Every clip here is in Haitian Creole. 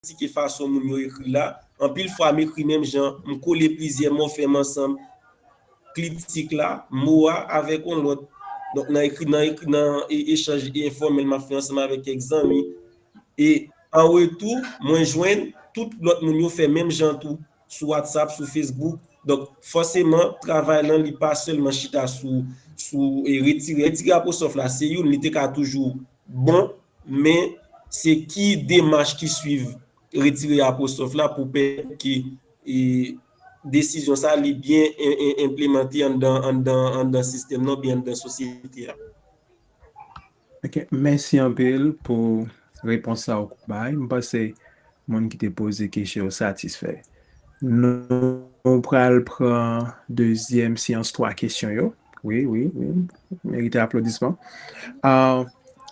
kritike fason moun yo ekri la. Anpil fwa m ekri menm jan, m kole plizyè mòfèm ansanm, kliptik la, mo a avèk yon lòt. Donk nan ekri nan ekri nan echanj enfòmèl m ap fè ansanm avèk kèk zanmi. E an retou, mwen jwenn tout lòt moun yo fè menm jan tou, sou Whatsapp, sou Facebook. Donk fòseman, travay lan li pa sèlman chita sou sou retire. Retire apostwòf la se youn, li te ka toujou Bon, men, se ki demach ki swiv retire apwostrof la pou pèmèt ke desizyon sa li byen enplemante anndan sistèm nan oubyen anndan sosyete a? Ok, mèsi anpil pou repons sa ou bay. M panse moun ki te poze kesyon yo satisfè. Nou pral pran dezyèm seyans 3 kesyon yo. Wi, wi, wi. Merite aplodisman. Ah,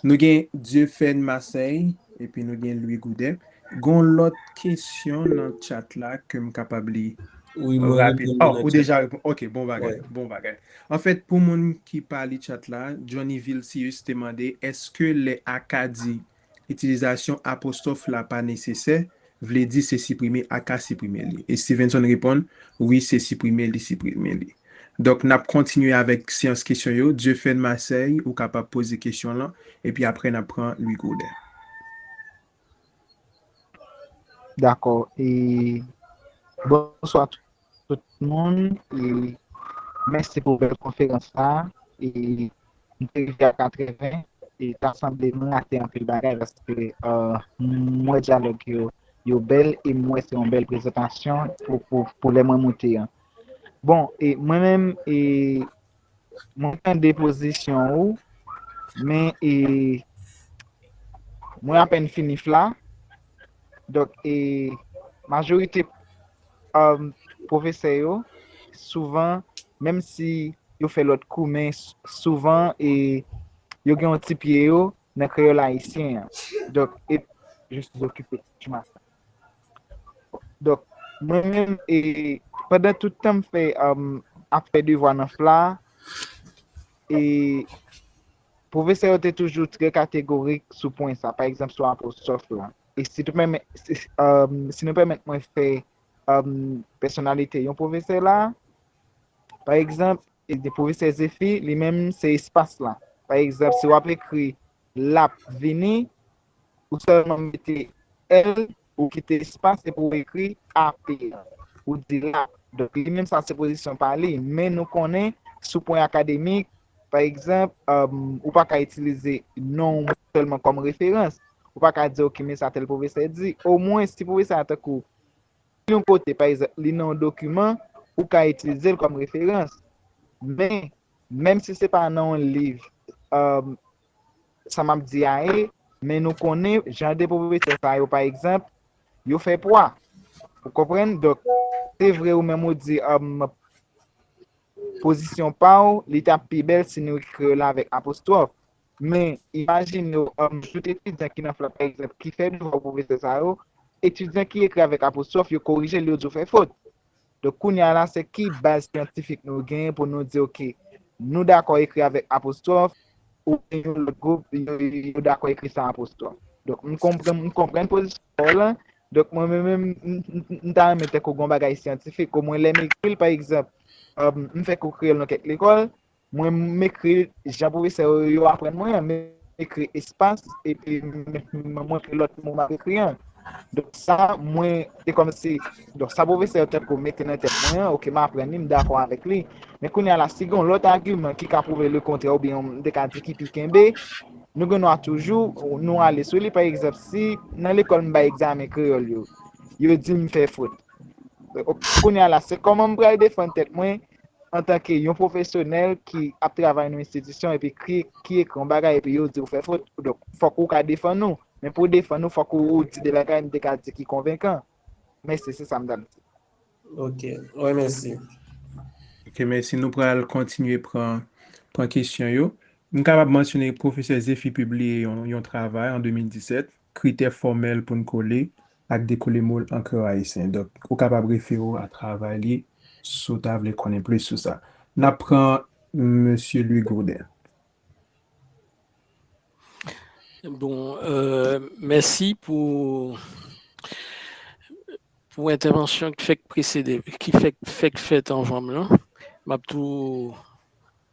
nou gen Dieufène Marseille epi nou gen Louis Goudet. Gon lòt kesyon nan chat la ke m kapab li Oui, mwen rapid. reponn li Oh, nan ou chat. deja repon. Ok, bon bagay, Ouais. bon bagay. An fèt, pou moun ki pa li chat la, Johnny Vilcius te mande eske lè Aka di Itilizasyon apostwòf la pa nesesè, vle di se siprime a ka siprime li. E Stevenson reponn, Wi, se siprime li siprime li. Donk, n ap kontinye avèk seyans kesyon yo. Dieufène Marseille, ou kapab poze kesyon lan, epi apre n ap pran Louis Gaudin. Dakò. E, bonswa tout. tout moun e mèsi pou bèl konferans sa e m te rive a 80 e ta sanble m rate anpil bagay paske m wè dyalòg yo yo bèl e m wè se yon bèl prezantasyon pou lè mwen moute an bon e mwen menm e Mwen tande pozisyon ou, men e, mwen apèn fini FLA, donk e, majorite um, pwofesè yo, souvan, menm si yo fè lòt kou men souvan e, yo gen yon ti pye yo nan kreyòl ayisyen an. Donk e, je suis occupé, tu m'as. Donk, mwen menm, e, pandan tout tan m fè, ap fè devwa nan FLA a, e, pwofesè yo te toujou trè kategorik sou pwen sa, pa egzanp sou apostwòf la. E si nou pèmèt, si nou pèmèt mwen fè, pèsonalite yon pwofesè la, pa egzanp. de pwofesè Zefi li menm se espas la. Pa egzanp, si w ap ekri l ap vini, ou sèlman mete l, ou kite espas epi ou ekri ap la. Ou di l ap. Donk li menm sa se pozisyon pa li. Men nou konnen sou pwen akademik, pa egzanp, ou pa ka itilize non w sèlman kòm referans. Ou pa ka di ok men sa tèl pwofesè di. Omwen si pwofesè a tankou Si yon kote, pa egzanp, li nan yon dokiman, ou ka itilize l kòm referans. Men, menm si se pa nan yon liv, sa m ap di a ye, men nou konnen jan de pwofesè sa yo, pa egzanp, yo fè pwa. Ou konprann? Donk, se vre ou menm ou di pozisyon pa ou, li t ap pi bèl si nou ekri yo la avèk apostwòf. Men, imajine w ann joute etidyan ki nan flè pa egzanp ki fè devwa pou pwofesè sa yo, etidyan ki ekri avèk apostwòf yo korije l yo di w fè fot. Donk kounye a la se ki baz syantifik nou genyen pou nou di ok nou dakò ekri avèk apostwòf oubyen yon lòt gwoup yo dakò ekri san apostwòf. Donk m konprann m konprann pozisyon pa w lan, donk mwen menm menm m ta renmen tankou gon bagay syantifik omwen lè m ekri l pa egzanp m fè kou kreyòl nan kèk lekòl Mwen m ekri jan pwofesè yo aprann mwen an, m ekri espas epi m montre lòt mo m ap ekri an. Donk sa mwen, se kòmsi, donk sa pwofesè yo tankou mete nan tèt mwen an, ok m aprann li, m dakò avèk li. Men kounye a la, si gen yon lòt agiman ki ka pwouve lekontrè oubyen yon, m te ka di ki pi kenbe, nou gen dwa toujou nou ale sou li. Pa egzanp, si nan lekòl m bay egzamen kreyòl yo, yo di m fè fot. Kounye a la, se kòman m pral defann tèt mwen antanke yon pwofesyonèl ki ap travay nan yon enstitisyon epi ki ekri yon bagay epi yo di ou fè fot, donk fòk ou ka defann ou, men pou w defann ou fòk ou di de bagay m te ka di ki konvenkan. Mèsi, se sa m t ap di. Ok, mwen mèsi. Ok, mèsi. Nou pral kontinye pran pran kesyon yo. M kapab mansyone pwofesè Zephy pibliye yon yon travay an 2017 kritè fòmèl pou n kole ak dekole mo l an kreyòl ayisyen. Donk, ou kapab refere w a travay li si w ta vle konnen plis sou sa. N ap pran Mesye Louis Gourdin. Bon, mèsi pou pou entèvansyon k fèk presede, ki fèk fèk fèt anvan m lan. M ap tou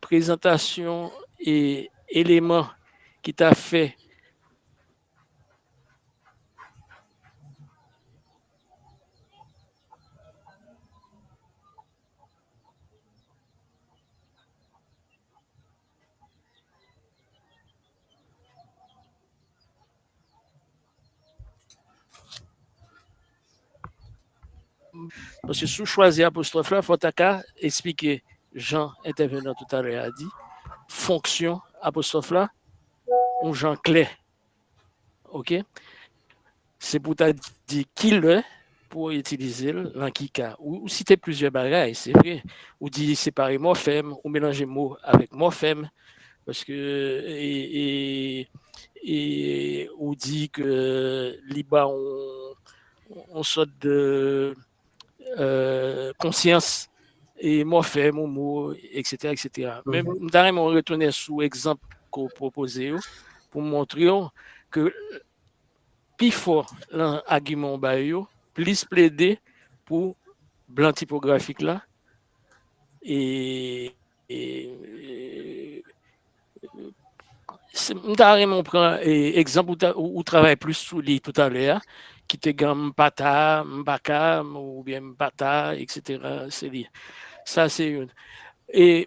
Prezantasyon e eleman ki ta fè. Paske si w chwazi apostwòf la, fò w ta ka esplike jan entèvenan toutalè a di, fonksyon apostwòf la, yon jan klè. Ok? Se pou w ta di kilè Pou w itilize l, lan ki ka. Ou site plizyè bagay, se vre. Ou di separe mòfèm, ou melanje mo avèk mòfèm. Paske e, e, ou di ke li ba w yon sòt de konsyans e mòfèm ou mo, eksetera, eksetera. Men m ta renmen w retounen sou egzanp ke w pwopoze yo pou m montre w ke pi fò lan agiman ou bay yo, plis plede pou blan tipografik la, e, e, si, m ta renmen ou pran egzanp ou ta, ou travay plis sou li toutalè a, ki te gen m pa ta, m pa ka, oubyen m pa ta, eksetera, se li. Sa se youn. E.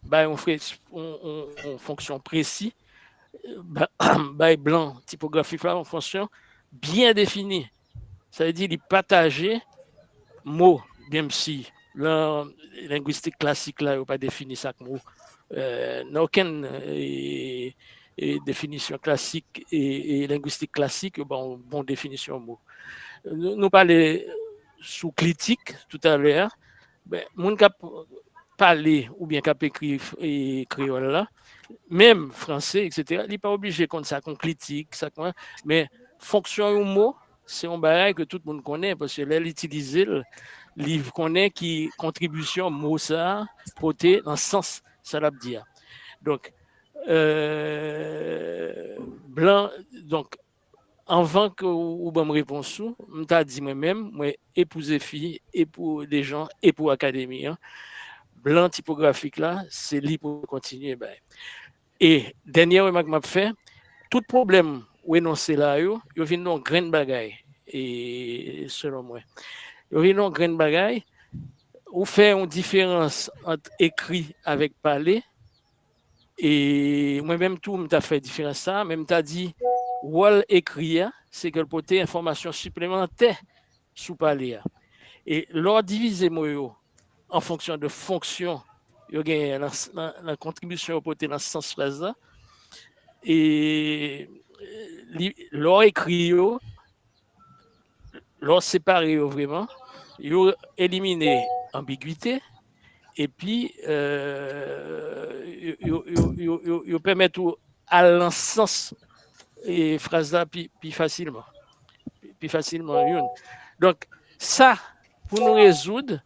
Bay yon fonksyon presi. Bay blan tipografif la yon fonksyon byen defini. Sa vle di li pataje mo menm si lan lengwistik klasik la yo pa defini sa k mo. Nan okenn definisyon klasik lengwistik klasik yo ba w bon definisyon mo. Nou pale sou klitik toutalè a. Ben, moun kap pale oubyen kap ekri kreyòl la, menm franse, eksetera, li pa oblije konn sa kon klitik, sa kon, men fonksyon yon mo, se yon bagay ke tout moun konnen, paske lè l itilize l, li konnen ki kontribisyon mo sa a pote nan sans sa l ap di a. Donk, blan, donk, Anvan ke ou banm repons ou, m ta di mwen menm, mwen e pou Zefi, e pou Dejan, e pou Akademi an, blan tipografik la, se li pou nou kontinye bay. E dènyè remak m ap fè, tout pwoblèm ou enonse la yo, yo vin yon grenn bagay, selon mwen. Yo vin yon grenn bagay, ou fè yon diferans ant ekri avèk pale, E mwen menm tou m ta fè diferans sa a, men m ta di wòl ekri a se ke l pote enfòmasyon siplemantè sou pale a. E lè w divize mo yo an fonksyon de fonksyon yo genyen nan kontribisyon yo pote nan sans fraz la, e lè w ekri yo, Lè w separe yo vreman, yo elimine anbigwite epi yo pèmèt ou al nan sans fraz la pi fasilman. Pi fasilman yon. Donk, sa pou nou rezoud,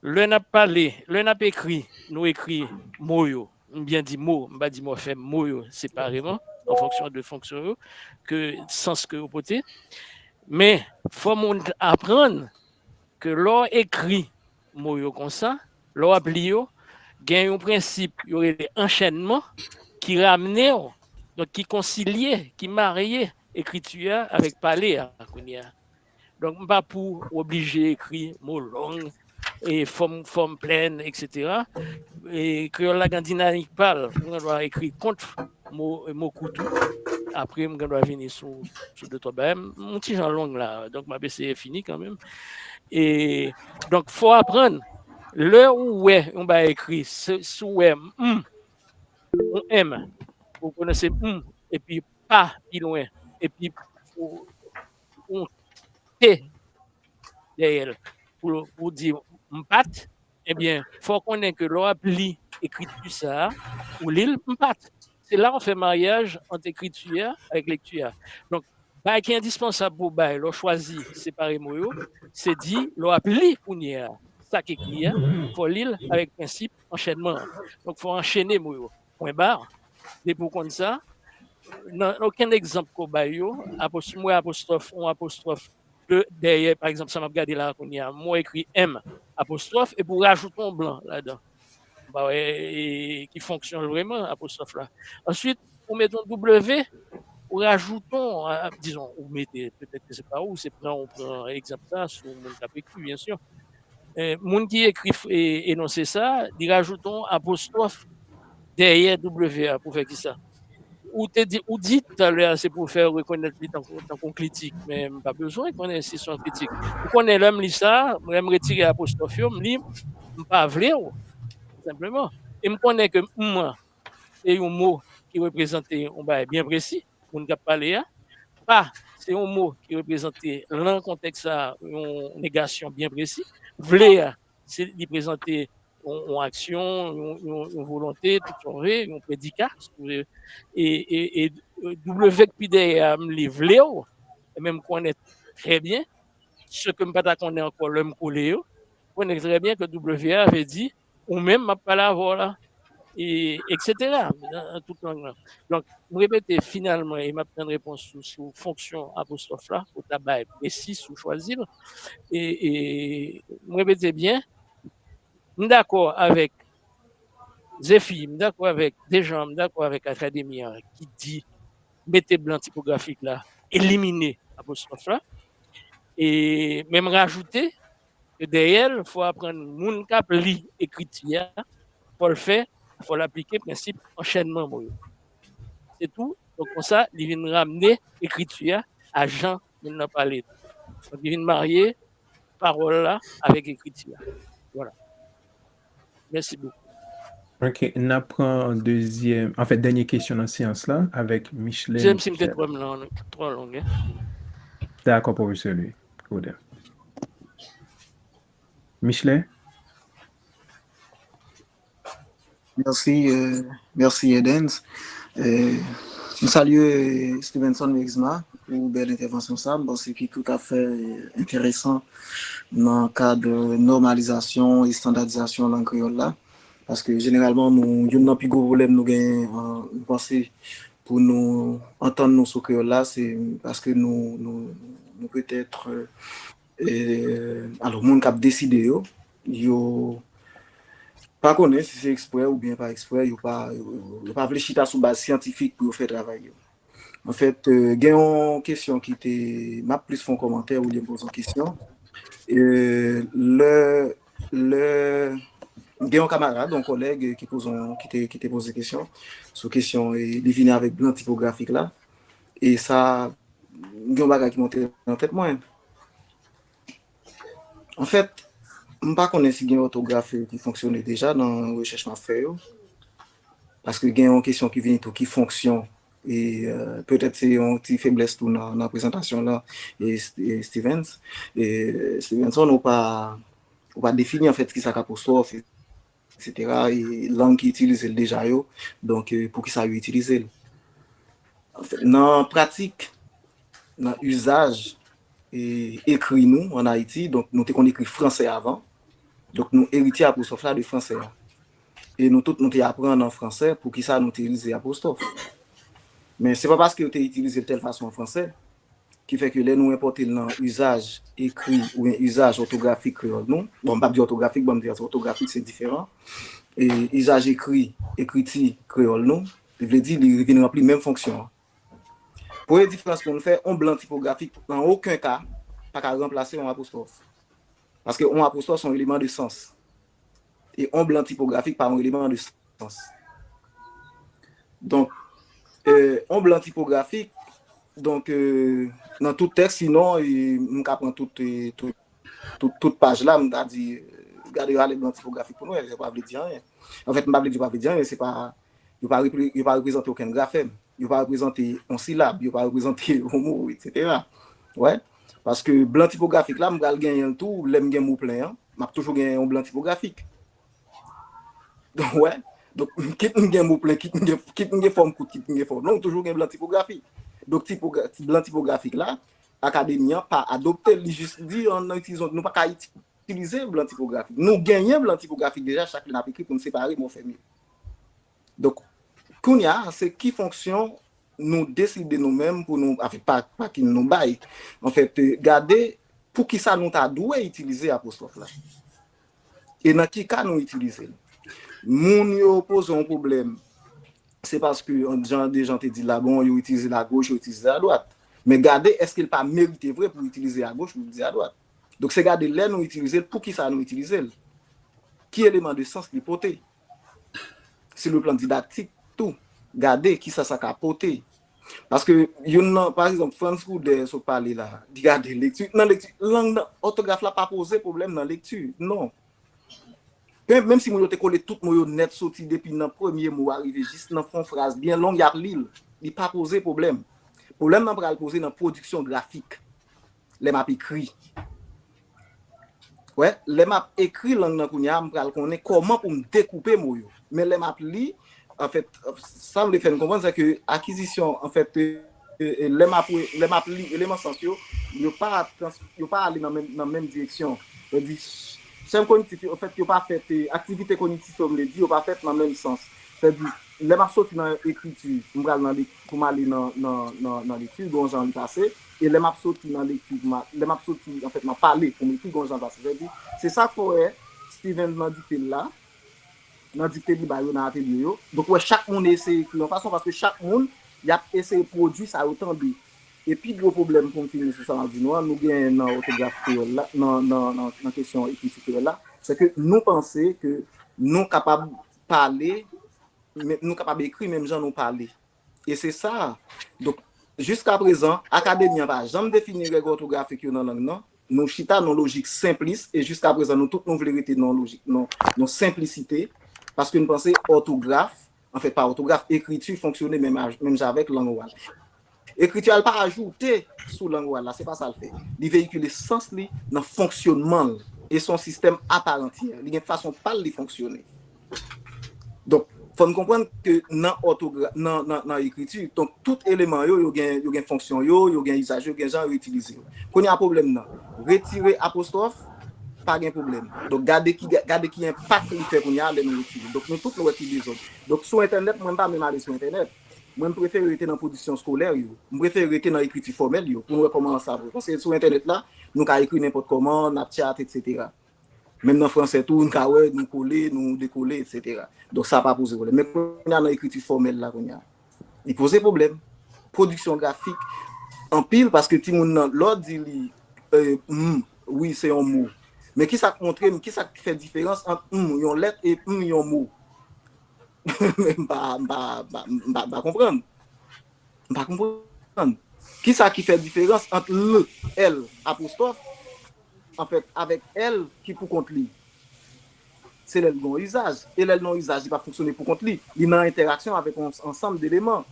lè n ap pale, lè n ap ekri, nou ekri mo yo M byen di mo, m pa di mòfèm, mo yo separeman, an fonksyon de fonksyon yo, ke sans ke yo pote. Men, fò moun aprann ke lè w ekri mo yo konsa, lè w ap li yo, gen yon prensip yo rele anchènman ki ramne w, donk ki konsilye, ki marye ekriti a avèk pale a kounye a. Donk m pa pou w oblije ekri mo long, fòm fòm plèn etc. Kreyòl la gen dinamik pa l. Ou gen dwa ekri kont mo kou tou. Apre m gen dwa vini sou de twa bagay. M yon ti jan long la. Donk m ap eseye fini kanmenm. Donk fò w aprann lè ou wè yon bagay ekri si ou wè m yon m ou pwononse m epi pa pi lwen epi ou yon te dèyè l pou ou di m pat, ebyen fò w konnen ke lè w ap li ekriti sa a, ou li l m pat. Se la w fè maryaj ant ekriti a avèk lekti a. Donk, bagay ki endispansab pou w bay lè w chwazi separe mo yo, se di lè w ap li kounye a sa k ekri a, fò w li l avèk prensip anchènman an. Donk, fò w anchene mo yo. pwen bar, depi w konn sa, nan okenn egzanp ke w bay yo, si m wè apostwòf, yon apostwòf dèyè, pa egzanp sa m ap gade la a kounye a, m wè ekri M apostwòf, epi w rajoute yon blan ladan, m pa wè ki fonksyon l vreman, apostwòf la. Ansuit, ou mete yon W, ou rajoute yon, dizon, ou mete, petèt ke se pa ou, se pran ou pran egzanp sa a sou moun k ap ekri, byensi. Moun ki ekri enonse sa a, li rajoute yon apostwòf dèyè W a pou fè kisa? Ou te di, ou di toutale a se pou fè rekonèt li tankou yon kritik, men m pa bezwen konnen si se yon kritik. Ou konnen lè m li sa, lè m retire apostwòf yo, m li, m pa vle w, senpleman. E m konnen ke m an, se yon mo ki reprezante yon bagay byen presi, moun k ap pale a. Pa se yon mo ki reprezante lan kontèks sa a yon negasyon byen presi. Vle a se li prezante yon aksyon, yon volonte, tout sa w vle, yon predika. E W k pi dèyè a m li vle w, e men m konnen trè byen, se ke m pa ta konnen ankò lè m kole yo, m konnen trè byen ke W a vle di Ou menm m ap pale avè w la. E eksetera nan tout lang lan. Donk, m repete, finalman, e m ap tann repons ou sou fonksyon apostwòf la pou w ta bay presi si w chwazi l. E m repete byen, m dakò avèk Zefi, m dakò avèk Dejan, m dakò avèk Akademi an ki di mete blan tipografik la, elimine apostwòf la. E men m rajoute. E dèyè l, fò w aprann moun k ap li ekriti a, fò l fè, fò l aplike prensip anchènman mo yo. Se tou, donk konsa, li vin ramne ekriti a a jan moun nan pale li. Donk li vin marye pawòl la avèk ekriti a. Vwala. Mèsi bokou. Ok, n ap pran dezyèm, anfen dènye kesyon nan seyans la avèk Micheline. Di m si m te pranm nan twò long e. Dakò pwofesè Louis Gaudin. Micheline? Mèsi, mèsi Edens. M salye Stevenson Louisma pou bèl entèvansyon sa, m panse ki toutafè enteresan nan kad nòmalizasyon, estandadizasyon lang kreyòl la, paske jeneralman nou, youn nan pi gwo pwoblèm nou gen, m panse, pou nou antann nou sou kreyòl la, se paske nou, nou petèt, alò moun k ap deside yo, yo pa konnen si se eksprè oubyen pa eksprè, yo pa, yo pa vle chita sou baz syantifik pou yo fè travay yo. En fèt, gen yon kesyon ki te, m ap plis fè yon kòmantè olye m poze yon kesyon. Lè, lè, m gen yon kamarad, yon kòlèg ki poze yon, ki te, ki te poze kesyon, sou kesyon, li vini avèk blan tipografik la, e sa, m gen yon bagay ki monte nan tèt mwen. Anfèt, m pa konnen si gen òtograf yo ki fonksyone deja nan rechèch m ap fè yo. Paske gen yon kesyon ki vini tou, ki fonksyon, e petèt se yon ti feblès tou nan prezantasyon w lan, Stevens, Stevenson, ou pa defini anfèt ki sa k apostwòf, Etsetera e lang ki itilize l deja yo, donk poukisa yo itilize l? Nan pratik, nan izaj ekri nou an Ayiti, donk nou te konn ekri franse avan, donk nou eritye apwostwòf la de franse a. E nou tout nou te aprann an franse poukisa nou itilize apwostwòf. Men se pa paske yo te itilize l tèl fason an franse. ki fè ke lè nou enpòte l nan izaj ekri oubyen izaj òtografik kreyòl nou, bon m p ap di òtografik bon m di òtografik se diferan, izaj ekri, ekriti, kreyòl nou, vle di li vin ranpli menm fonksyon an. Premye diferans pou nou fè, yon blan tipografik an oken ka pa ka ranplase yon apostwòf, paske yon apostwòf se yon eleman de sans. E on blan tipografik pa on eleman de sans. Donk, on blan tipografik, donk, nan tout tèks, sinon, m ka pran tout, tout paj la, m ta di, gade rale blan tipografik pou nou wè, yo pa vle di anyen. Anfèt, m pa vle di yo pa vle di anyen, se pa, Yo pa yo pa reprezante okenn grafèm. Yo pa reprezante yon silab. Yo pa reprezante yon mo, etsetera. Ou wè? Paske blan tipografik la, m pral genyen l tou lè m gen mo plen an. M ap toujou genyen yon blan tipografik. Ou wè? Donk, kit m gen mo plen, kit m gen, kit m gen fòm kout, kit m gen fòm long, m toujou gen blan tipografik. Donk, tipogra, blan tipografik la, Akademi an pa adopte l. Li jis di an nou itilize yon, nou pa ka itilize blan tipografik. Nou genyen blan tipografik deja, chak lè n ap ekri pou n separe mòfèm yo. Donk, kounye a, se ki fonksyon nou deside nou menm pou nou, avèk pakin nou bay, anfèt, gade pou ki sa nou ta dwe itilize apostwòf la. E nan ki ka nou itilize l. Moun yo poze yon pwoblèm, se paske, jan Dejan te di la, bon, yo itilize l agoch, yo itilize l adwat. Men gade èske l pa merite vre pou itilize agoch, pou itilize adwat. Donk se gade lè nou itilize l, poukisa nou itilize l, ki eleman de sans li pote, si le plan didaktik tou, gade kisa sa ka pote. Paske youn nan, pa egzanp, Frantz Goudert sot pale la, li gade lekti, nan lekti, lang nan, òtograf la pa poze pwoblèm nan lekti, non. Menm si moun yo te kole tout mo yo nèt soti depi nan premye mo a rive jis nan fon fraz byen long y ap li l, li pa poze pwoblèm. Pwoblèm nan pral poze nan pwodiksyon grafik. Lè m ap ekri. Wè, lè m ap ekri lang nan kounye a, m pral konnen kòman pou m dekoupe mo yo. Men lè m ap li, anfèt, sa m vle fè n konprann sè ke akizisyon, anfèt, lè m ap, lè m ap li eleman sans yo, yo pa trans, yo pa ale nan menm, nan menm direksyon. Sa di, chèn kognitif yo, anfèt, yo pa fèt, aktivite kognitif yo, m vle di, yo pa fèt nan menm sans. Sa di, lè m ap soti nan ekriti, m pral nan lek, pou m ale nan, nan, nan lekti, gen yon jan li pase. E lè m ap soti nan lekti pou m al, lè m ap soti anfèt nan pale pou m ekri gon jan pase. Sa vle di, se sa k fè w wè Steven nan dikte l la, nan dikte li bay yo nan atelye yo, donk ou wè chak moun eseye ekri yon fason paske chak moun y ap eseye pwodui sa yo tande. E pi gwo pwoblèm pou m fini sou sa m ap di nou an, nou genyen nan òtograf kreyòl la, nan kesyon ekriti kreyòl la, se ke nou panse ke nou kapab pale, nou kapab ekri menm jan nou pale. E se sa a. Donk, jiskaprezan, Akademi an pa janm defini règ òtografik yo nan lang nan. Nou chita nan yon lojik senplis, e jiskaprezan nou tout nou vle rete nan yon lojik, nan yon senplisite, paske n panse òtograf, anfen, pa òtograf, ekriti fonksyone menm a, menm jan avèk lang oral. Ekriti a l pa ajoute sou lang oral la, se pa sa l fè. Li veyikile sans li nan fonksyonman l. E se yon sistèm a pa rantyè. Li gen fason pa l li fonksyone. Donk, fò n konprann ke nan òtogra, nan, nan, nan ekriti, donk tout eleman yo, yo gen, yo gen fonksyon yo, yo gen izaj yo, gen jan yo itilize yo. Kounye a pwoblèm nan, retire apostwòf, pa gen pwoblèm. Donk gade ki, gade ki enpak li fè kounye a lè nou retire. Donk nou tout nou wè ki dezòd. Donk sou entènèt, mwen m pa menm ale sou entènèt. Mwen m prefere rete nan pwodiksyon eskolè yo. M prefere rete nan ekriti fòmèl yo pou n wè kòman sa vre. Paske sou entènèt la, nou ka ekri nenpòt kòman, n ap tchat, etsetera. Menm nan franse tou, n ka wè nou kole, nou dekole, etsetera. Donk sa pa poze pwoblèm. Men kounye a nan ekriti fòmèl la kounye a, li poze pwoblèm. Pwodiksyon grafik anpil paske timoun nan lè w di li m, wi se yon mo. Men ki sa k montre m, ki sa k fè diferans ant m, yon lèt, e m, yon mo? M pa konprann. M pa konprann. Kisa ki fè diferans ant l, èl, apostwòf, anfèt, avèk èl ki pou kont li? Se lè l gen yon izaj. E lè l nan yon izaj, li pa fonksyone pou kont li. Li nan entèraksyon avèk yon ansanm deleman.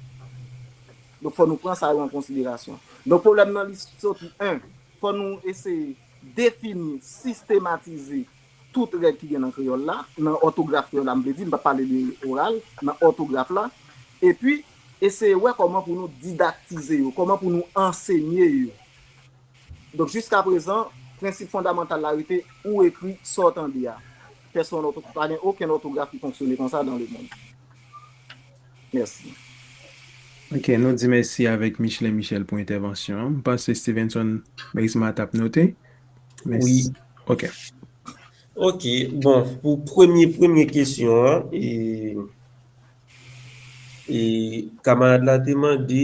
Donk fò nou pran sa yo an konsiderasyon. Donk pwoblèm nan li soti 1. Fò nou eseye defini, sistematize, Tout règ ki gen nan kreyòl la, nan òtograf kreyòl la m vle di, m p ap pale de oral, nan òtograf la, epi eseye wè kòman pou nou didaktize yo, kòman pou nou ansenye yo. Donk jiskaprezan, prensip fondamantal la rete ou ekri sa w tande a. Pèsonn òto, pa gen okenn òtograf ki fonksyone konsa dan lemonn. Mèsi. Ok, nou di mèsi avèk Michelet Michel pou entèvansyon an. M panse Stevenson Merisma t ap note. Oui, ok. Ok, bon, pou premye premye kesyon an, e, e, kamarad la te mande,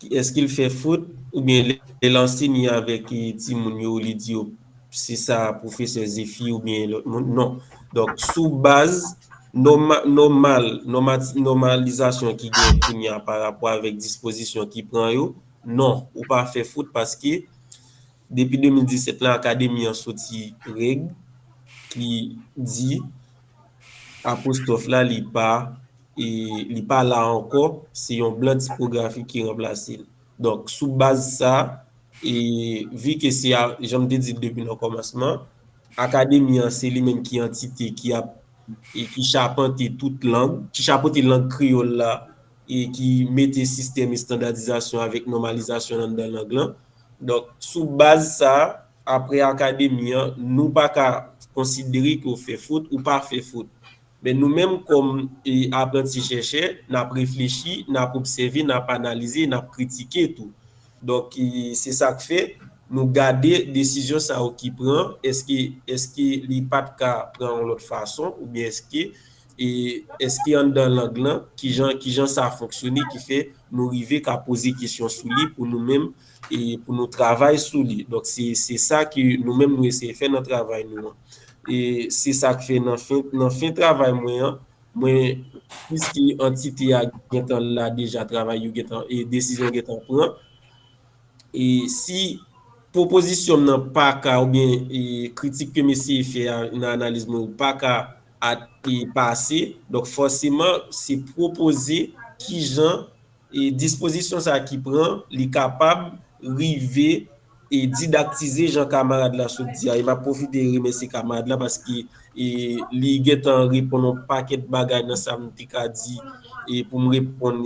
eske l fè fot, oubyen lè l ansenye avèk e timoun yo, li di yo, se sa pwofesè Zefi oubyen lòt moun, non. Donk, sou baz nòma, nòmal, nòmati, nòmalizasyon ki gen kounye a pa rapò avèk dispozisyon ki pran yo, non, ou pa fè fot paske. Depi 2017 la Akademi an soti règ ki di apostwòf la li pa li pa la ankò, se yon blan tipografik ki ranplase l. Donk sou baz sa, e vi ke se a jan m te di l depi nan kòmansman, Akademi an se li menm ki antite ki ap e ki chapante tout lang, ki chapote lang kreyòl la e ki mete sistèm estandadizasyon avèk nòmalizasyon anndan lang lan. Donk, sou baz sa, apre Akademi an, nou pa ka konsidere ke w fè fot ou pa fè fot. Men nou menm kòm apranti chèchè, n ap reflechi, n ap obsève, n ap analize, n ap kritike tou. Donk, se sa k fè, nou gade desizyon sa yo ki pran, èske li pa t ka pran yon lòt fason oubyen èske E eske anndan lang lan, kijan kijan sa fonksyone ki fè nou rive ka poze kesyon sou li pou nou menm e pou nou travay sou li. Donk se se sa ke nou menm nou eseye fè nan travay nou an. E se sa k fè nan fen nan fen travay mwen an, mwen piske antite a gen tan la deja travay yo gen tan e desizyon gen tan pran. E si pwopozisyon m nan pa ka oubyen e kritik ke m eseye fè a nan analiz mwen yo pa ka Ak pase, donk fòseman se pwopoze ki jan dispozisyon sa ki pran li kapab rive didaktize jan kamarad la sot di a. E m ap pwofite remèsye kamarad la paske li gen tan reponn yon pakèt bagay nan sa m te ka di pou m reponn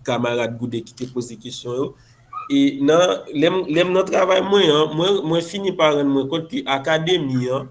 kamarad Gouden ki te poze kesyon yo. E lè m nan travay mwen an, mwen fini pa rann mwen kont ke akademi an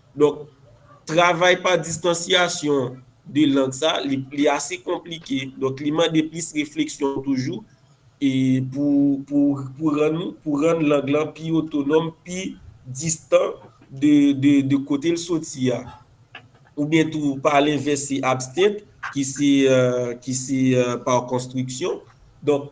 Donk, travay pa distansyasyon 2 lang sa, li ase konplike. Donk, li mande plis refleksyon toujou e pou rann lang lan pi otonòm, pi distan de kote l soti a. Oubyen tou, pa lenvès, se abstant ki se par construction. Donk,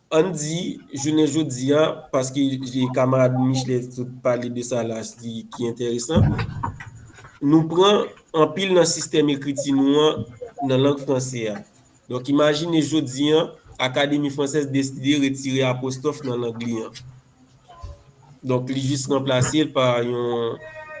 An n di, jounen jodi a, paske kamarad Michelet sot pale de sa la ki enteresan, nou pran anpil nan sistèm ekriti nou an nan lang franse a. Donk imajine jodi a, Académie française deside retire apostwòf nan lang li an. Donk li jis ranplase l pa yon,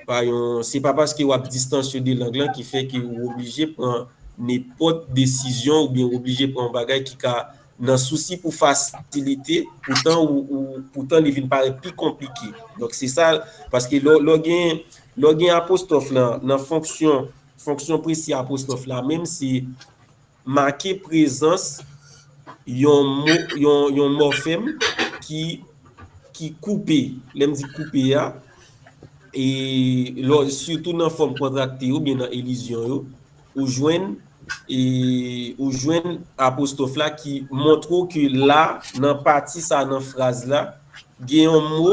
pa yon, se pa paske w ap distansye de lang lan ki fè ke ou oblije pran nenpòt desizyon oubyen ou oblije pran yon bagay ki ka nan sousi pou fasilite poutan ou, ou, poutan li vin parèt pi konplike. Donk se sa, paske lè w, lè w gen, lè w gen apostwòf lan nan fonksyon, fonksyon presi apostwòf la menm se. Make prezans yon mòfèm ki koupe. Lè m di koupe a, sitou nan fòm kontrakte yo oubyen nan elizyon yo, ou jwenn ou jwenn apostwòf la ki montre w ke la, nan pati sa a nan fraz la, gen yon mo,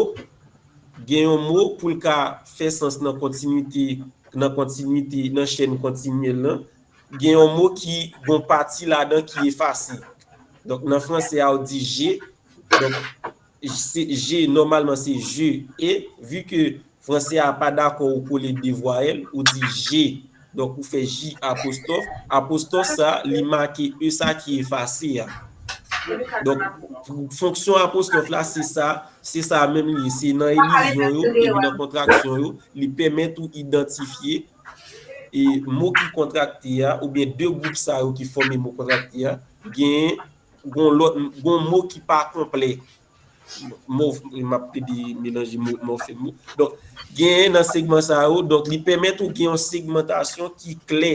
gen yon mo pou l ka fè sans nan kontinwite, nan kontinwite, nan chèn kontinyèl lan, gen yon mo ki gon pati ladan ki efase. Donk nan franse a ou di je, donk je nòmalman se je e, vi ke franse a pa dakò ou kole 2 vwayèl, ou di je, donk ou fè ji apostòf, apostòf sa li make e sa ki efase a. Donk fonksyon apostòf la se sa, se sa menm li ye, se nan elizyon yo epi nan kontraksyon yo li pèmèt ou idantifye mo ki kontrakte a oubyen de gwoup sa yo ki fòme mo kontrakte a gen yon lòt yon mo ki pa konplè m ap plede melanje mo mòfèm yo donk gen nan segman sa yo donk li pèmèt ou gen yon segmantasyon ki klè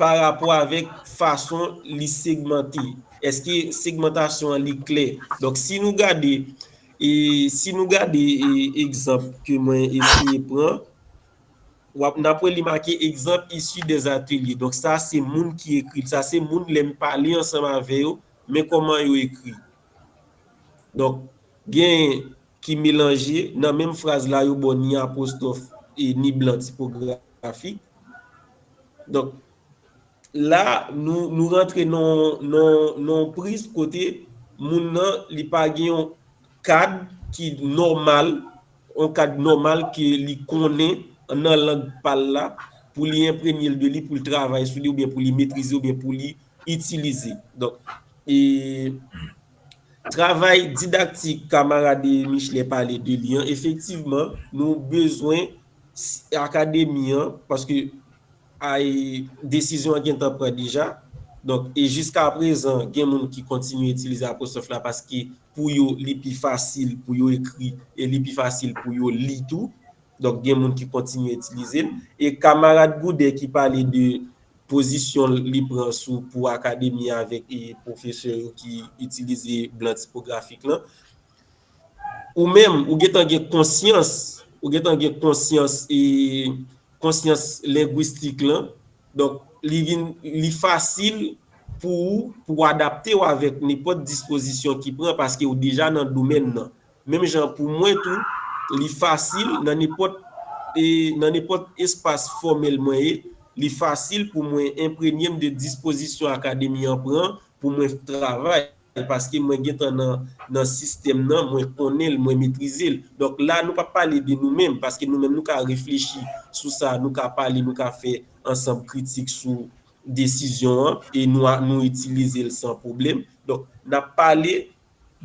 Parapò avèk fason li segmante, èske segmantasyon an li klè? Donk si nou gade, si nou gade egzanp ke mwen eseye pran, wap, nap wè li make egzanp issu des ateliers. Donk sa se moun ki ekri l, sa se moun lèm pale ansanm avè yo, men kòman yo ekri. Donk gen. ki melanje nan menm fraz la yo ba w ni apwostwòf e ni blan tipografik. Donk, la a, nou rantre nan yon priz kote moun nan li pa gen yon kad ki nòmal, yon kad nòmal ke li konnen nan lang pa l la pou li enpremye l de li, pou l travay sou li oubyen pou li metrize oubyen pou li itilize. Donk, e. Travay didaktik kamarade Michelet pale de li an efektivman nou bezwen akademi an paske ay desizyon an gentan pran deja donk e jiskaprezan gen moun ki kontinye itilize apwostrof la paske pou yo li pi fasil pou yo ekri e li pi fasil pou yo li tou donk gen moun ki kontinye itilize l e kamarad Goudè ki pale de Pozisyon li pran sou pou akademi avèk pwofesè yo ki itilize blan tipografik lan. Ou menm, ou gentan gen konsyans, ou gentan gen konsyans, konsyans lengwistik lan. Donk, li vin, li fasil pou ou pou w adapte w avèk nenpòt dispozisyon ki pran paske ou deja nan domèn nan. Menm jan pou mwen tou, li fasil nan nenpòt nan nenpòt espas fòmèl mwen ye, li fasil pou mwen enpremye m de dispozisyon Akademi an pran pou mwen travay, paske mwen gentan nan nan sistèm nan, mwen konnen l, mwen metrize l. Donk la nou pa pale de nou menm, paske nou menm nou ka reflechi sou sa, nou ka pale, nou ka fè ansanm kritik sou desizyon an e nou nou itilize l san pwoblèm. Donk n ap pale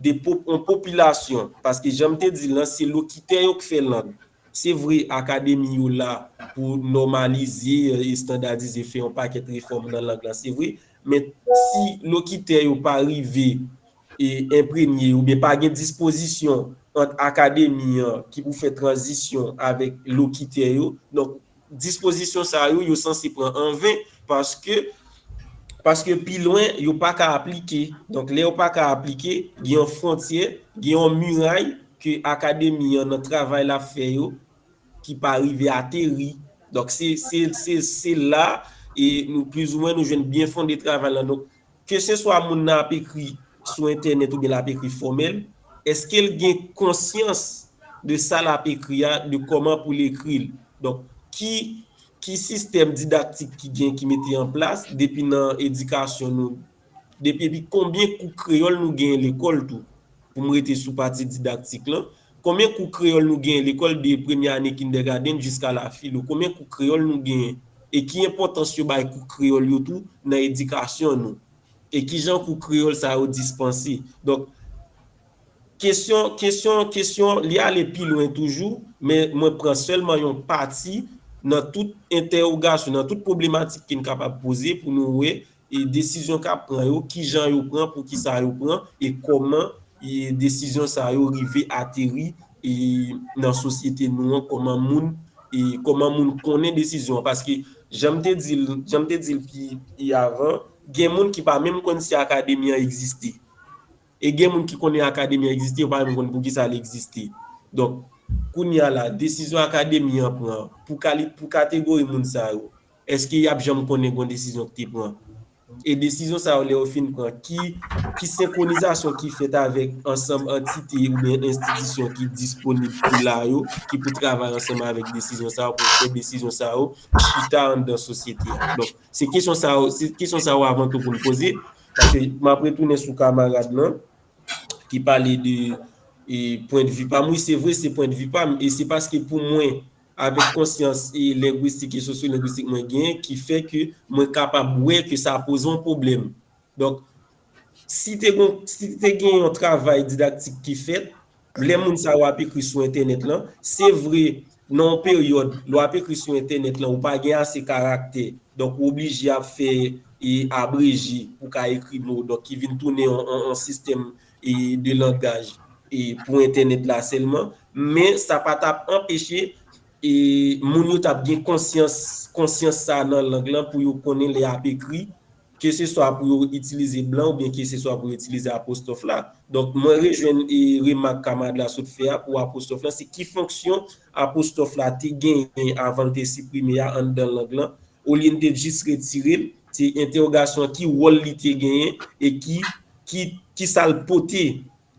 de on popilasyon, paske jan m te di l lan, se lokitè yo k fè lang. Se vre akademi yo la pou nòmalize, estandadize, fè yon pakèt refòm nan lang lan, se vre, men si lokitè yo pa rive enpremye oubyen pa gen dispozisyon ant akademi an ki pou fè tranzisyon avèk lokitè yo, donk, Dispozisyon sa yo, yo sanse pran an ven, paske, paske pi lwen, yo pa ka aplike. Donk, lè yo pa ka aplike, gen yon fwontyè, gen yon miray ke Akademi an, nan travay l ap fè yo, ki pa rive ateri. Donk, se, se, se la, e nou plizoumwen nou jwenn byenfonde travay lan. Donk, keseswa moun nan ap ekri sou entènèt oubyen l ap ekri fòmèl, èske l gen konsyans de sa l ap ekri a, de kòman pou l ekri l? Donk, ki ki sistèm didaktik ki gen, ki mete an plas depi nan edikasyon nou? Depi epi konbyen kou kreyòl nou genyen lekòl tou? Pou m rete sou pati didaktik lan, Konbyen kou kreyòl nou genyen lekòl de premye ane kindègadenn jiska la filo? Konbyen kou kreyòl nou genyen? E ki enpòtans yo bay kou kreyòl yo tou nan edikasyon nou? E ki jan kou kreyòl sa yo dispanse? Donk, kesyon, kesyon, kesyon, li ale pi lwen toujou, men mwen pran sèlman yon pati nan tout entèwogasyon, nan tout pwoblematik ke n kapab poze pou nou wè E desizyon kap pran yo, kijan yo pran, poukisa yo pran, e kòman desizyon sa yo rive ateri nan sosyete nou an, kòman moun, kòman moun konnen desizyon an. Paske janm te di l, janm te di l pi avan, gen moun ki pa menm konn si akademi an egziste. E gen moun ki konnen akademi an egziste, yo pa menm konn poukisa l egziste. Donk, kounya la, desizyon akademi an pran pou kategori moun sa yo, Eske yap janm konnen gon desizyon ki te pran? E desizyon sa yo lè yo fin pran ki ki senkronizasyon ki fèt avèk ansanm antite oubyen enstitisyon ki disponib pou la yo ki pou travay ansanm avèk desizyon sa yo pou fè desizyon sa yo chita anndan sosyete a? Donk se kesyon sa yo se kesyon sa yo avan tou pou n poze paske map retounen sou kamarad lan ki pale de e pwendvi pa m wi se vre se pwendvi pa m e se paske pou mwen Avèk konsyans lengwistik e sosyolengwistik mwen genyen ki fè ke mwen kapab wè ke sa poze yon pwoblèm. Donk, si te gon, si te gen yon travay didaktik ki fèt, lè moun sa yo ap ekri sou entènèt lan, se vre nan yon peryòd lè w ap ekri sou entènèt lan ou pa gen ase karaktè, donk ou oblije ap fè abreje pou w ka ekri mo, donk ki vin tounen yon sistèm e de langaj e pou entènèt la sèlman, men sa pa tap anpeche e moun yo tap gen konsyans konsyans sa nan lang lan pou yo konnen lè yap ekri ke se swa pou yo itilize blan ou byen ke se swa pou yo itilize apostwòf la. Donk mwen rejwenn e remak kamarad la sot fè a pou apostwòf lan se ki fonksyon apostwòf la te genyen avan l te siprime a anndan lang lan Olye n te jis retire l, se entèwogasyon an ki wòl li te genyen e ki ki ki sa l pote,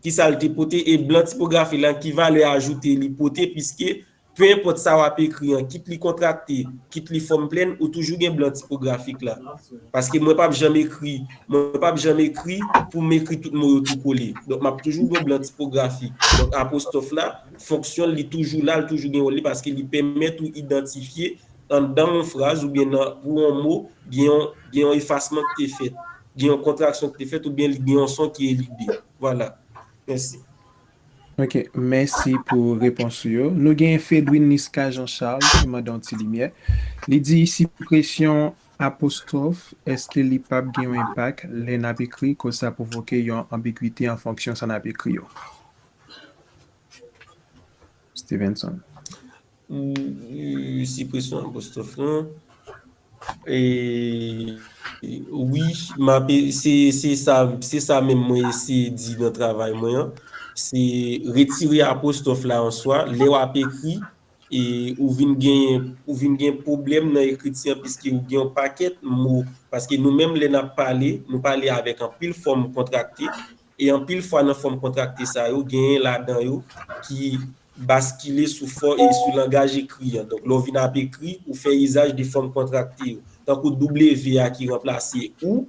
ki sa l te pote e blan tipografi lan ki valè ajoute li pote piske pe enpòt sa w ap ekri an kit li kontrakte, kit li fòm plèn ou toujou gen blan tipografik la. Paske mwen p ap janm ekri mwen p ap janm ekri pou m ekri tout mo yo tou kole. Donk m ap toujou gen blan tipografi. Donk apostwòf la fonksyon l li toujou la, li toujou gen wòl li paske li pèmèt ou idantifye Anndan yon fraz oubyen nan pou yon mo gen yon gen yon efasman ki te fèt, gen yon kontraksyon ki te fèt oubyen li gen yon son ki elide. Vwala. Mèsi. Ok, mèsi pou repons ou yo. Nou genyen Fedwin Niska Jean Charles ki mande yon ti limyè. Li di sipresyon apostwòf èske li p ap gen yon enpak lè n ap ekri koz sa pwovoke yon anbigwite an fonksyon sa n ap ekri yo? Stevenson. Sipresyon apostwòf lan Wi, m ap se sa menm mwen eseye di nan travay mwen an se retire apostwòf la an swa lè w ap ekri e ou vin genyen ou vin gen pwoblèm nan ekriti an piske ou gen yon pakèt mo paske nou menm lè n ap pale nou pale avèk anpil fòm kontrakte E anpil fwa nan fòm kontrakte sa yo, genyen ladan yo ki baskile sou fò e sou langaj ekri an. Donk, lè w vin ap ekri, ou fè izaj de fòm kontrakte yo. Tankou doubleve a ki ranplase ou.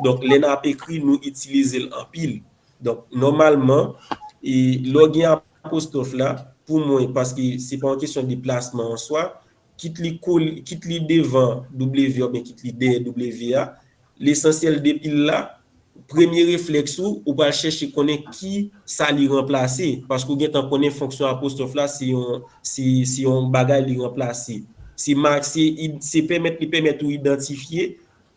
Donk, lè n ap ekri, nou itilize l anpil. Donk, nòmalman, lè w gen apostwòf la, pou mwen, paske se pa yon kesyon de plasman an swa, kit li kole, kit li devan W oubyen kit li dèyè W a, lesansyèl depi l la, premye reflèks ou, ou pral chèche konnen ki sa li ranplase, paske ou gentan konnen fonksyon apostwòf la se yon, se, se yon bagay li ranplase. Se ma, se id, se pèmèt li pèmèt ou idantifye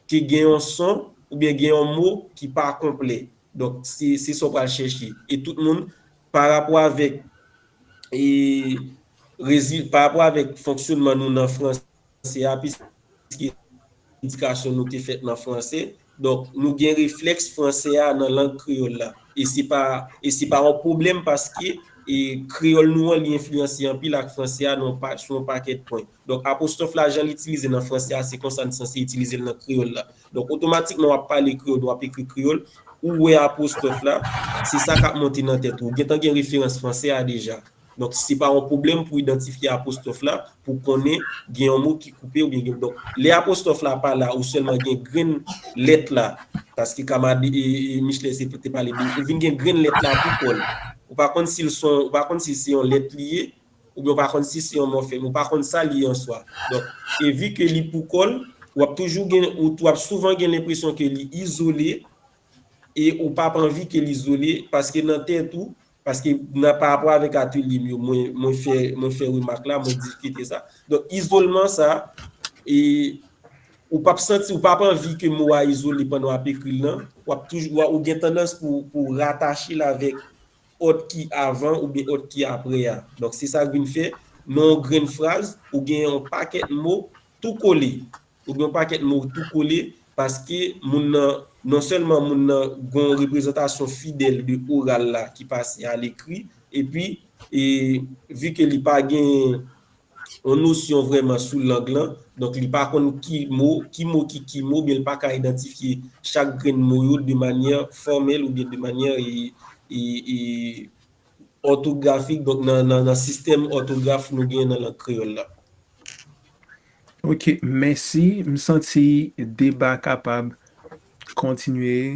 ke gen yon son oubyen gen yon mo ki pa konplè. Donk, se, se sa w pral chèche. E tout moun, parapò avèk. E rezil, pa rapò avèk fonksyonman nou nan franse a, piske edikasyon nou te fèt nan franse, donk nou gen reflèks franse a nan lang kreyòl la. E se pa, e se pa yon pwoblèm paske e kreyòl nou an li enfliyanse anpil ak franse a nan yon pa, sou yon pakèt pwen. Donk apostwòf la jan l itilize nan franse a se konsa n sanse itilize l nan kreyòl la. Donk otomatikman w ap pale kreyòl ou ap ekri kreyòl, ou wè apostwòf la, se sa k ap monte nan tèt ou. Ou gentan gen referans franse a deja. Donk se pa yon pwoblèm pou idantifye apostwòf la, pou w konnen gen yon mo ki koupe oubyen gen donk lè apostwòf la pa la ou sèlman gen grenn lèt la paske kamarad Michelet se te pale de ou vin gen grenn lèt la pou kò l. Ou pa konn si l son ou pa konn si se yon lèt li ye Oubyen ou pa konn si se yon mòfèm, ou pa konn sa li ye an swa. Donk, e vi ke li pou kò l, w ap toujou gen, w ap souvan gen lenpresyon ke li izole, e ou pa p anvi ke l izole, paske nan tèt ou, paske nan parapò avèk atelye m yo, mwen, mwen fè, mwen fè remak la, mwen diskite sa. Donk, izolman sa, e ou pa p santi, ou pa p anvi ke mo a izole pandan w ap ekri l lan, w ap toujou, ou gen tandans pou, pou w ratache l avèk ot ki avan oubyen ot ki apre a. Donk se sa k vin fè, nan yon grenn fraz, ou gen yon pakèt mo tou kole. Ou gen yon pakèt mo tou kole paske moun nan, non sèlman moun nan gen yon reprezantasyon fidèl de oral la ki pase alekri, epi, e, vi ke li pa gen. yon nosyon vrèman sou lang lan, donk li pa konn ki mo, ki mo ki ki mo, oubyen li pa ka idantifye chak grenn mo yo de manyè fòmèl oubyen de manyè òtografik, donk nan sistèm òtograf nou genyen nan lang kreyòl la. Ok, mèsi. M santi deba kapab kontinye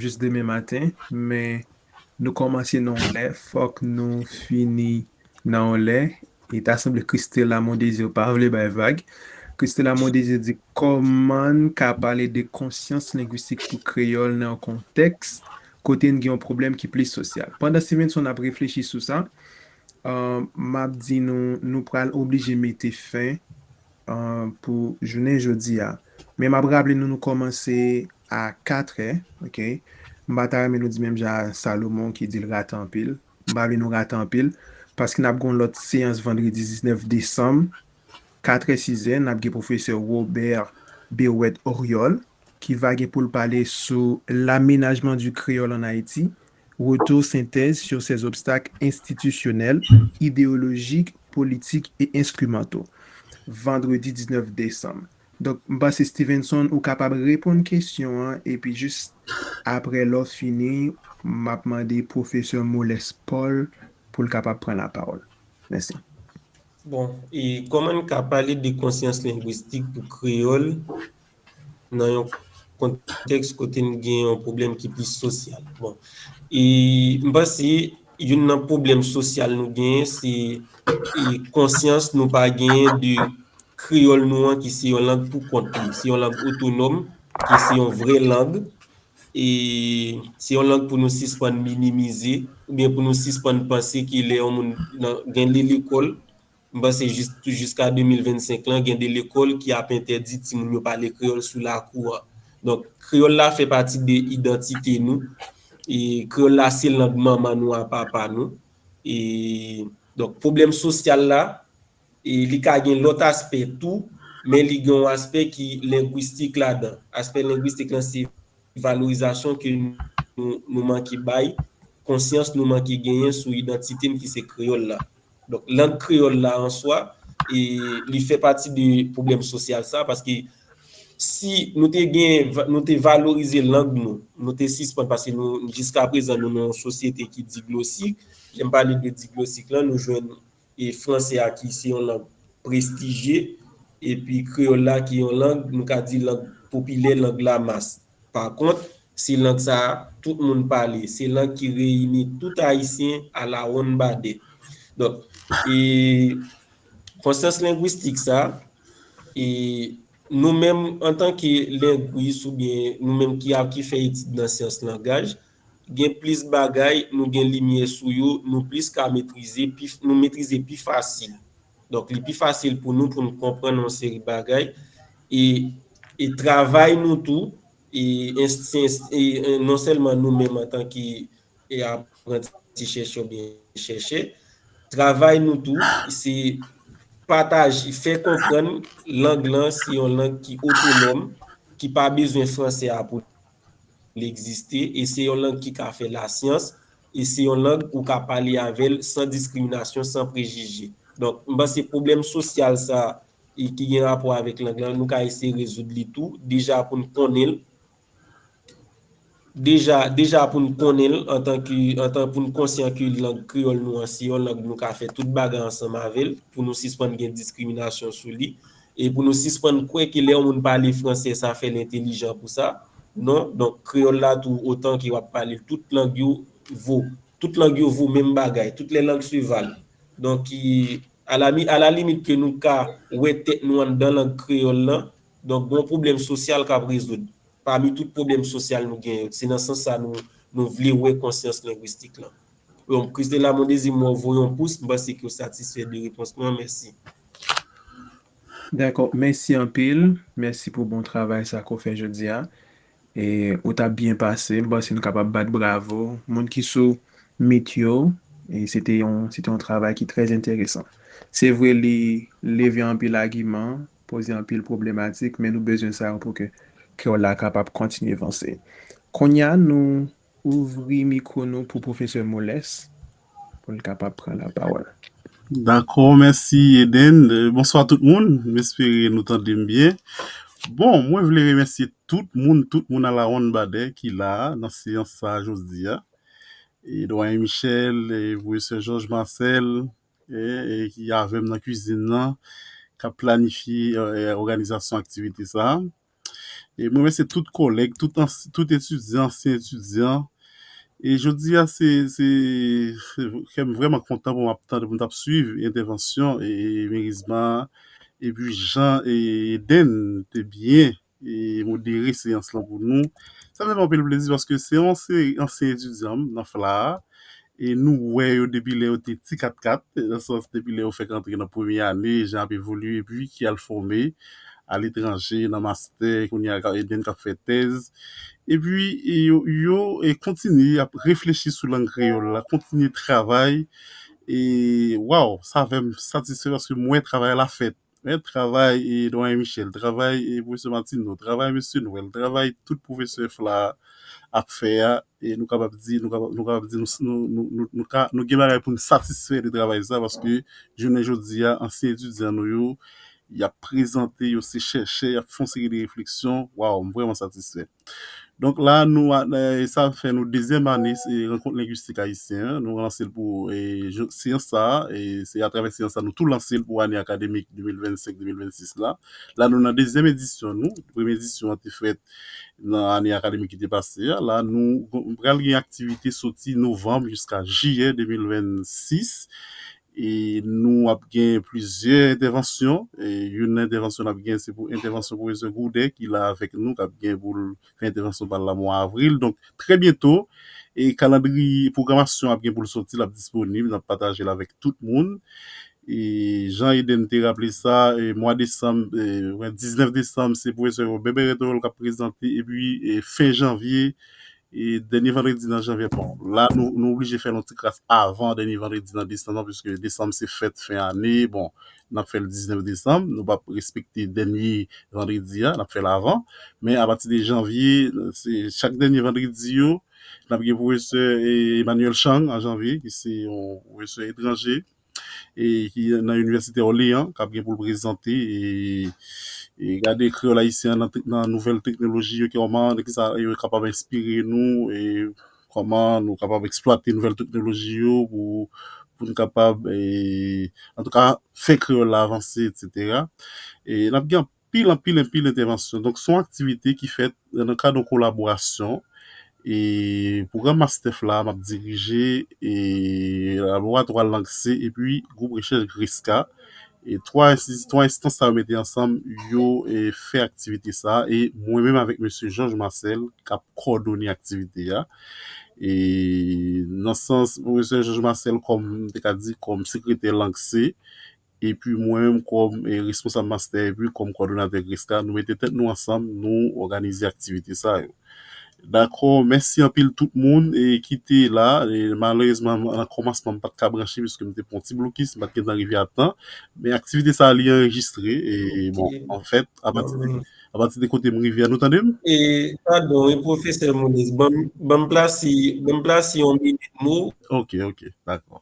jis demen maten, men Nou kòmanse nan yon lè, fòk nou fini nan yon lè, e ta sanble Christella Mondésir pa vle bay vag. Christella Mondésir di, Kòman n ka pale de konsyans lengwistik pou kreyòl nan yon kontèks kote n gen yon pwoblèm ki plis sosyal? Pandan Stevenson ap reflechi sou sa, m ap di nou, nou pral oblije mete fen. pou jounen jodi a men map raple nou nou kòmanse a 4 è ok m pa ta renmen nou di menm jan a Salomon ki dil rate anpil m pa vle nou rate anpil paske nap gen yon lòt seyans vandredi 19 desanm 4 è 6 è nap gen pwofesè Robert Berrouët Oriol ki va gen poul pale sou l'amenajman di kreyòl an Ayiti Retou sentèz sur ces obstacles institutionnels, idéologiques, politiques et instrumentaux, Vandredi 19 desanm. Donk, m panse Stevenson ou kapab reponn kesyon an epi jis aprè lè w fini m ap mande pwofesè Moles Paul pou l kapab pran lapawòl. Mèsi. Bon, e kòman n ka pale de konsyans lengwistik pou kreyòl nan yon kontèks kote n gen yon pwoblèm ki plis sosyal. Bon, e m panse youn nan pwoblèm sosyal nou genyen se konsyans nou pa genyen de kreyòl nou an ki se yon lang pou kont li, se yon lang otonòm, ki se yon vrè lang, e se yon lang pou nou sispann minimize oubyen pou nou sispann panse ke lè yon moun gen li lekòl, M panse jis pou jiska 2025 lan gen 2 lekòl ki ap entèdi timoun yo pale kreyòl sou lakou an. Donk, kreyòl la fè pati de idantite nou. E kreyòl la se lang manman nou a papa nou. E donk pwoblèm sosyal la, e li ka gen lòt aspè tou, men li gen yon aspè ki lengwistik ladan. Aspè lengwistik lan se valorizasyon ke nou manke bay, konsyans nou manke genyen sou idantite n ki se kreyòl la. Donk lang kreyòl la an swa, li fè pati de pwoblèm sosyal sa, paske si nou te gen, nou te valorize lang nou, nou te sispann, paske nou, jiska prezan nou nan yon sosyete ki diglosik, lè m pale de diglosik lan, nou jwenn franse a ki se yon lang prestijye, epi kreyòl la ki yon lang, nou ka di lang popilè, lang lamas. Pa kont, se lang sa a tout moun pale. Se lang ki reyini tout Ayisyen alawonnbadè. Donk, konsyans lengwistik sa a, nou menm antanke lengwis oubyen nou menm ki fè etid nan syans langaj, gen plis bagay nou gen limyè sou yo, nou plis ka metrize, nou metrize pi fasil. Donk li pi fasil pou nou pou nou konprann yon seri bagay e travay nou tou e non sèlman nou menm antanke apranti chèchè oubyen chèchè, travay nou tou se pataje, fè konprann lang lan se yon lang ki otonòm, ki pa bezwen franse a pou li egziste e se yon lang ki ka fè lasyans E se yon lang ou ka pale avè l san diskriminasyon, san prejije. Donk, m panse pwoblèm sosyal sa a e ki gen rapò avèk lang lan, nou ka eseye rezoud li tou, deja pou n konnen l, deja, deja pou n konnen l antan ke, antan pou n konsyan ke lang kreyòl nou an se yon lang nou ka fè tout bagay ansanm avè l, pou nou sispann gen diskriminasyon sou li. E pou nou sispann kwè ke lè yon moun pale franse sa fè l entelijan pou sa. Non, donk kreyòl la tou otan ke w ap pale l tout lang yo vo. Tout lang yo vo menm bagay. Toutes les langues se valent. Donk alami alalimit ke nou ka wè tèt nou anndan lang kreyòl lan, donk gon pwoblèm sosyal k ap rezoud. Pami tout pwoblèm sosyal nou gen yo. Se nan sans sa nou nou vle wè konsyans lengwistik lan. Yon Christella Mondésir m wè w voye yon pous, m panse ke w satisfè de repons mwen an, mèsi. Dakò, mèsi anpil, mèsi pou bon travay sa ke w fè jodi a. E ou t ap byen pase, m panse nou kapab bat bravo moun ki sou mit yo, e se te yon, se te yon travay ki trè enteresan. Se vre li leve anpil agiman, poze anpil pwoblematik, men nou bezwen sa yo pou ke kè w la kapab kontinye vanse. Kounye a nou Ouvri mikwo nou pou pwofesè Moles pou l kapab pran lapawòl. Dakò, mèsi Eden. Bonswa tout moun, m espere nou tande m byen. Bon, mwen vle remèsye tout moun, tout moun alawonn badè ki la a nan seyans sa a jodi a. E Dwayen Michèl, Pwofesè Jòj Masèl ki avè m nan kuizin nan k ap planifye òganizasyon aktivite sa a. E mwen mèsye tout kòlèg, tout ans, tout etidyan, ansyen etidyan. E jodi a se, se, se kè m vrèman kontan pou m ap tande, pou m t ap suiv entèvansyon e Merizma a. E pi jan e Edenn te byen e modere seyans lan pou nou. Sa fè m anpil plezi paske se yon seri ansyen etidyan m nan FLA a. e nou wè yo depi lè yo te ti katkat, nan sans depi lè yo fèk antre nan premye ane, jan ap evolye epi ki al fòme aletranje nan mastè, kounye a e menm k ap fè tèz. Epi yo kontinye, y ap reflechi sou lang kreyòl la, kontinye travay e waww, sa fè m satisfè paske m wè travay la fèt. Men travay Doyen Michel, travay Pwofesè Martineau, travay Mesye Noël, travay tout pwofesè FLA a ap fè a, nou kapab di, nou kapab, nou kapab di nou ka, nou gen bagay pou nou satisfè de travay sa paske jounen jodi a ansyen etidyan nou yo y ap prezante, yo se chèchè, y ap fè yon seri de refleksyon, waw m vrèman satisfè. Donk la nou sa fè nou dezyèm ane rankont lengwistik ayisyen an, nou lanse l pou seyans sa a, se atravè seyans sa a nou tou lanse l pou ane akademik 2025, 2026 la. La nou nan dezyèm edisyon nou, premye edisyon an te fèt nan ane akademik ki te pase a, la nou pral gen aktivite soti novanm jiska jiyè 2026 E nou ap gen plizyè entèvansyon. E youn nan entèvansyon n ap gen se pou entèvansyon pwofesè Gourdin ki la avèk nou k ap gen pou l fè entèvansyon pa l la mwa avril. Donk trè byento e kalandriye pwogramasyon ap gen pou l soti l ap disponib n ap pataje l avèk tout moun. E jan Eden te raple sa e mwa desanm e mwen 19 desanm se pwofesè Robert Berrethorel k ap prezante epi e fen janvye E dènye vandredi nan janvye bon la nou nou oblije fèl yon ti kras avan dènye vandredi nan desanm lan piske desanm se fèt fen ane bon nap fèl 19 desanm nou pap respekte dènye vandredi a nap fèl avan men apati de janvye se chak dènye vandredi yo nap gen pwofesè Emmanuel Chang an janvye ki se yon pwofesè etranje e ki nan Inivèsite Òleyan kap gen pou l prezante e gade kreyòl ayisyen an nan nouvèl teknoloji yo kòman e kisa yo kapab enspire nou e kòman nou kapab eksplwate nouvèl teknoloji yo pou pou n kapab e antouka fè kreyòl la avanse etsetera e n ap gen Pil anpil enpil entèvansyon. Donk son aktivite ki fèt nan kad yon kolaborasyon e pwogram mastèf la map dirije e laboratwa lang se epi gwoup rechèch GRISKA e 3 enstiti 3 enstans sa yo mete ansanm yo fè aktivite sa e mwen menm avèk mesye Jòj Masèl kap kòdone aktivite a e nan sans pwofesè Jòj Masèl kòm mte ka di kòm sekretè lang se Epi mwen menm kòm responsab mastè epi kòm kòdonatè GRESKA, nou mete tèt nou ansanm, nou òganize aktivite sa yo. Dakò, mèsi anpil tout moun ki te la. Malerezman nan kòmansman m pa t ka branche piske m te pran yon ti blokis, m pa t gen tan rive a tan. Men aktivite sa li anrejistre e bon anfèt apati de kote m rive a nou tande m? Padon wi pwofesè Monis, ban m plasi yon minit m ou. Ok, ok, dakò.